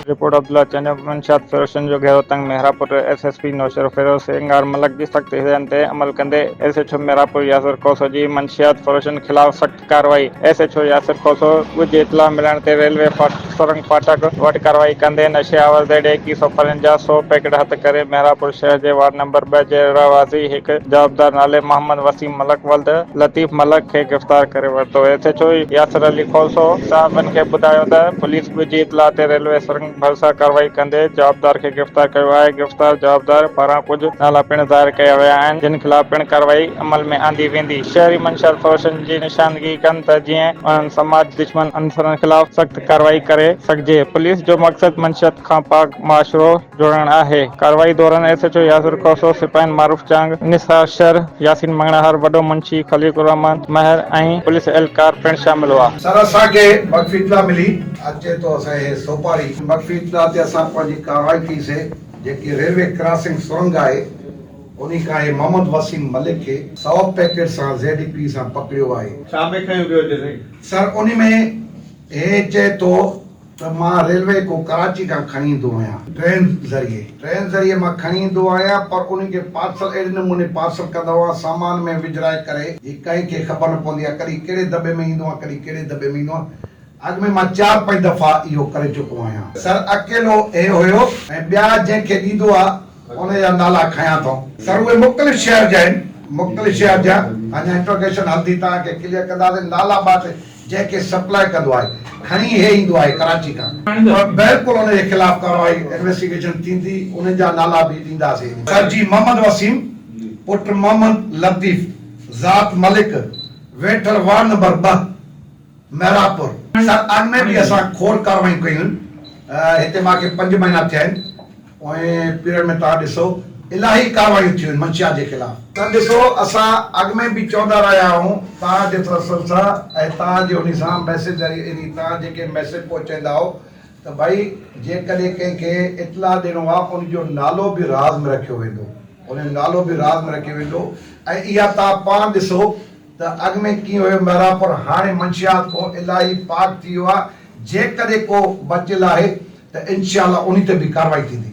Report Abdullah Chanio منشيات فروشن جو گهيرو تنگ Mehrabpur S S P Naushahro Feroze Singar Malik جي سخت هدايتن تي عمل ڪندي S H O Mehrabpur Yasir Khoso جي منشيات فروشن خلاف سخت ڪارروائي، S H O Yasir Khoso ڳجهي اطلاع ملڻ تي ريلوي سرنگ فاٽڪ وٽ ڪارروائي ڪندي نشي آور زيڊ ايڪيهه سؤ پرين جا سؤ پيڪٽ هٿ ڪري مهراپور شهر جي وارڊ نمبر ٻه جي رهواسي هڪ جوابدار نالي محمد وسيم ملڪ ولد لطيف ملڪ کي گرفتار ڪري ورتو S H O Yasir Ali Khoso صحافين کي ٻڌايو ته پوليس ڳجهي اطلاع تي ريلوي سرنگ ڀرسان ڪارروائي ڪندي جوابدار کي گرفتار ڪيو آهي، گرفتار جوابدار پاران ڪجهه نالا پڻ ظاهر ڪيا ويا آهن، جن خلاف پڻ ڪارروائي عمل ۾ آندي ويندي، شهري منشيات فروشن جي نشاندگي ڪن ته جيئن انهن سماج دشمن عنصرن خلاف سخت ڪارروائي ڪري سگهجي، پوليس جو مقصد منشيات کان پاڪ معاشرو جوڙڻ آهي، ڪارروائي دوران S H O Yasir Khoso, سپاهين معروف چانگ، نثار شر، ياسين مڱڻهار، وڏو منشي خليق الرحمان مهر ۽ پوليس اهلڪار پڻ شامل هئا. سر اسان کي وقف اطلاع ملي اچي ٿو اسان هي سوپاري. مخفي اطلاع تي اسان پنهنجي ڪارروائي ڪئي سي جيڪي ريلوي ڪراسنگ سرنگ آهي انهي کان هي محمد وسيم ملڪ کي سؤ پيڪيٽ سان زي ڊي پي سان پڪڙيو آهي. ڇا ۾ کنيو ويو هجي سائين؟ سر انهي ۾ هي چئي ٿو ته مان ريلوي کان ڪراچي کان کڻي ايندو آهيان. ٽرين ذريعي ٽرين ذريعي مان کڻي ايندو آهيان پر انهي کي پارسل اهڙي نموني پارسل ڪندو آهيان سامان ۾ وجهرائي ڪري جي ڪنهن کي خبر نه پوندي آهي ڪڏهن ڪهڙي دٻي ۾ ايندو آهيان ڪڏهن ڪهڙي دٻي ۾ ايندو آهيان. اڳ ۾ مان چار پنج دفعا اهو ڪري چڪو آهيان. سر اڪيلو هي هيو ۽ ٻيا جنهن کي ڏيندو آ ان جا نالا کنيان ٿو. سر اهي مختلف شهر جا آهن. مختلف شهر جا اڃا انٽروگيشن هلندي توهان کي ڪليئر ڪنداسين نالا بات جنهن کي سپلاء ڪندو آهي کڻي هي ايندو آهي ڪراچي کان. بلڪل ان جي خلاف ڪارروائي انويسٽيگيشن ٿيندي انهن جا نالا به ڏينداسين. سر جي محمد وسيم پٽ محمد لطيف ذات ملڪ ويٺل وارڊ نمبر ٻه. محراب پور سر اڳ ۾ به اسان کول ڪارروايون ڪيون هتي مان کي پنج مهينا ٿيا آهن پوئين پيريڊ ۾ توهان ڏسو الاهي ڪارروايون ٿيون منشيات جي خلاف. ته ڏسو اسان اڳ ۾ به چوندا رهيا آهيون توهان جي تسلسل سان ۽ توهان جي انهي سان ميسيج ذريعي يعني توهان جيڪي ميسيج پهچائيندا آهو ته ڀائي جيڪڏهن ڪنهن کي اطلاع ڏيڻو آهي ان جو نالو به راز ۾ رکيو ويندو ان جو نالو به راز ۾ رکيو ويندو ۽ اها توهان پاڻ ڏسو ته اڳ ۾ ڪيئن هيو ميرانپور هاڻي منشيات کان الاهي پاڪ ٿي ويو آهي جيڪڏهن ڪو بچيل آهي ته انشاء الله انهي تي به ڪارروائي ٿيندي.